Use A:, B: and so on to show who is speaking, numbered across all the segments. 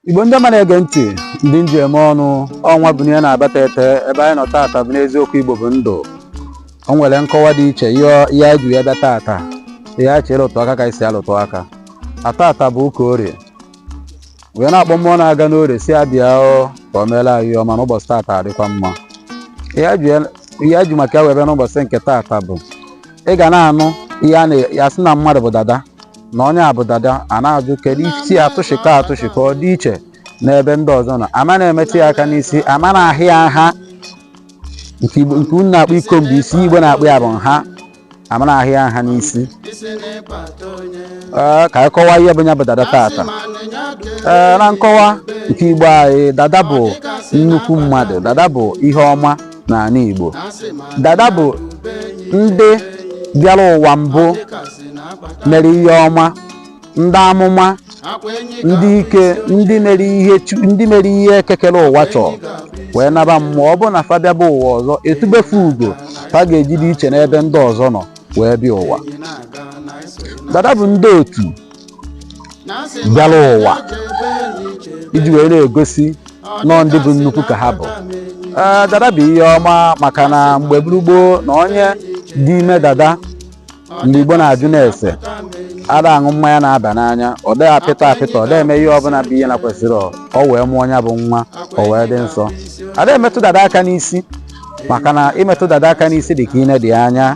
A: igbo ndị ọma na-ege ntị ndị nji eme ọnụ ọnwa bụ ihe na-abata ete ebe anyị nọ taata bụ n'eziokwu igbo bụ ndụ o nwere nkọwa dị iche ihe ihe anyị ji ya bịa taata ihe anyị chọrọ ịlụtụ aka ka anyị si alụtụ aka taata bụ ụka orie wee na-akpọ mmụọ na-aga n'orie si abịa ọ ka o meela anyị ihe ọma n'ụbọchị taata adịkwa mma ihe anyị ji ya- ihe anyị ji maka ya wee bịa n'ụbọchị nke taata bụ ị ga na-anụ ihe a na-asị na mmadụ bụ dada na onye a bụ dada a na-ajụ kedu isi atụchikọ atụchikọ ọ dị iche n'ebe ndị ọzọ nọ ama na-emetụ ya aka n'isi ama na-aha ya nha nke Igbo- nke unu na-akpọ i comb isi igbo na-akpọ ya bụ nha ama na-aha ya nha n'isi Ee, ka anyị kọwaa ihe bụ ya bụ dada tata ee na nkọwa nke igbo anyị dada bụ nnukwu mmadụ dada bụ ihe ọma n'ala Igbo dada bụ ndị bịara ụwa mbụ mere ihe ọma ndị amụma ndị ike ndị mere ihe ndị mere ihe eke kere ụwa chọọ wee naba mmụọ ọ bụrụ na fa bịaba ụwa ọzọ e tube fa ugo fa ga-eji dị iche n'ebe ndị ọzọ nọ wee bịa ụwa dada bụ ndị otu bịara ụwa iji wee na-egosi na ọ ndị bụ nnukwu ka ha bụ ee dada bụ ihe ọma maka na mgbe bụrụ gboo na onye dị ime dada mgbe igbo na-ajụ na-ese ada aṅụ mmanya na-aba n'anya ọ dịghị apịtọ apịtọ ọ dịghị eme ihe ọbụla bụ ihe na-ekwesirọ ọ wee mụọ ya bụ nwa ọ wee dị nsọ ada emetụ dada aka n'isi maka na ịmetụ dada aka n'isi dị ka ineda anya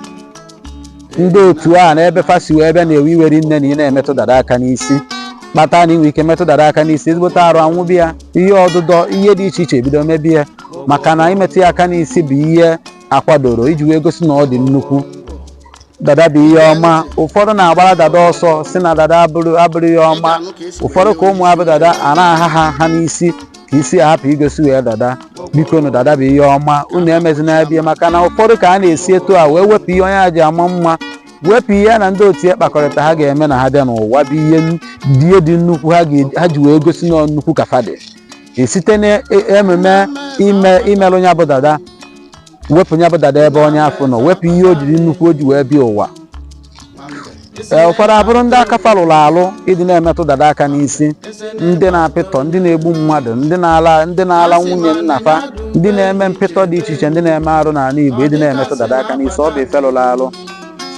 A: ndị otu ya na ebe fa si wee bịa na-ewe iwe rinne na ị na-emetụ dada aka n'isi kpata na i nwee ike metụ dada aka n'isi ezigbote arụ anwụba ya ihe ọdụdọ ihe dị iche iche ebido mebe ya maka na ịmetụ ya aka n'isi bụ ihe a kwadoro iji wee gosi na ọ dị nnukwu dada bụ ihe ọma ụfọdụ na-agbara dada ọsọ sị na dada abụrọ abụrọ ihe ọma ụfọdụ ka ụmụ ha bụ dada a na-aha ha nha n'isi ka isi ya hapụ igosi wee dada biko nụ dada bụ ihe ọma unu emezina ya bie maka na ụfọdụ ka a na-esi etu a wee wepụ ihe onye a ji ama mma wepụ ihe ya na ndị otu ya kpakọrịta ha ga-eme na ha bịa n'ụwa bụ ihe n- dị ihe dị nnukwu ha ga- ha ji wee gosi na ọ nnukwu ka fa dị site n'ememe ime imelụ ya bụ dada wepụ ya bụ dada ebe onye afụ nọ wepụ ihe o jiri nnukwu o ji wee bịa ụwa ee ụfọdụ abụrụ ndị aka fa lụrụ alụ ịdị na-emetụ dada aka n'isi ndị na-apịtọ ndị na-egbu mmadụ ndị na-ala ndị na-ala nwunye nna fa ndị na-eme mpịtọ dị iche iche ndị na-eme arụ n'ala Igbo ịdị na-emetụ dada aka n'isi ọ bụ ife lụrụ alụ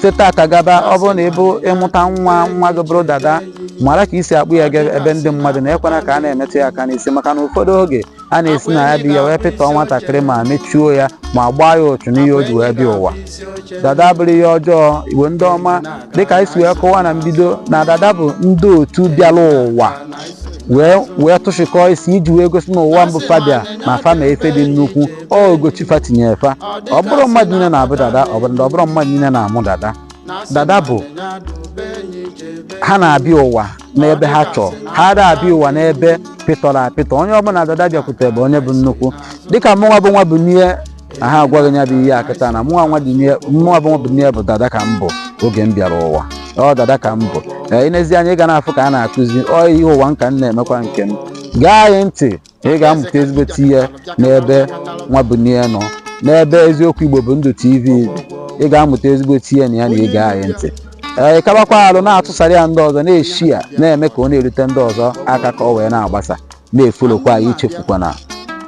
A: site tata gaba ọ bụrụ na ị bụ ị mụta nwa nwa gị bụrụ dada mara ka i si akpụ ya ga ebe ndị mmadụ nọ ekwena ka a na-emetụ ya aka n'isi maka na ụfọdụ oge a na-esi na ya bịa wee pịtọọ nwatakịrị ma mechuo ya ma gbaa ya ụchụ n'ihe o ji wee bịa ụwa dada abụrọ ihe ọjọọ igbo ndị ọma dịka anyị si wee kọwa na mbido na dada bụ ndị otu bịara ụwa wee wee tụchịkọọ isi iji wee gosi na ụwa mbụ fa bịa na fa ma ife dị nnukwu ọ ogo chi fa tinyere fa ọ bụrọ mmadụ niile na-abụ dada ọ bụrụ na ọ bụrọ mmadụ niile na-amụ dada dada bụ ha na-abịa ụwa n'ebe ha chọọ ha ada abịa ụwa n'ebe pịtọrọ apịtọ onye ọbụla dada bịakwute bụ onye bụ nnukwu dịka mụnwa bụ nwa bunie na-agwa gị ya bụ ihe a kịta na mụnwa nwa bunie mụnwa bụ nwa bunie bụ dada ka m bụ oge m bịara ụwa ọ dada ka m bụ ee i nezie anya ị ga na-afụ ka a na-akụzi ọ ihe ụwa nka m na-emekwa nke m gee anyị ntị ị ga-amụta ezigbote ihe n'ebe nwa bunie nọ n'ebe eziokwu igbo bụ ndụ tv ị ga-amụta ezigbote ihe na ya na ige anyị ntị ee kabakwa arụ na-atụsara ya ndị ọzọ na-eshare ya na-eme ka ọ na-erute ndị ọzọ aka ka ọ wee na-agbasa na-efolokwa anyị ichefukwana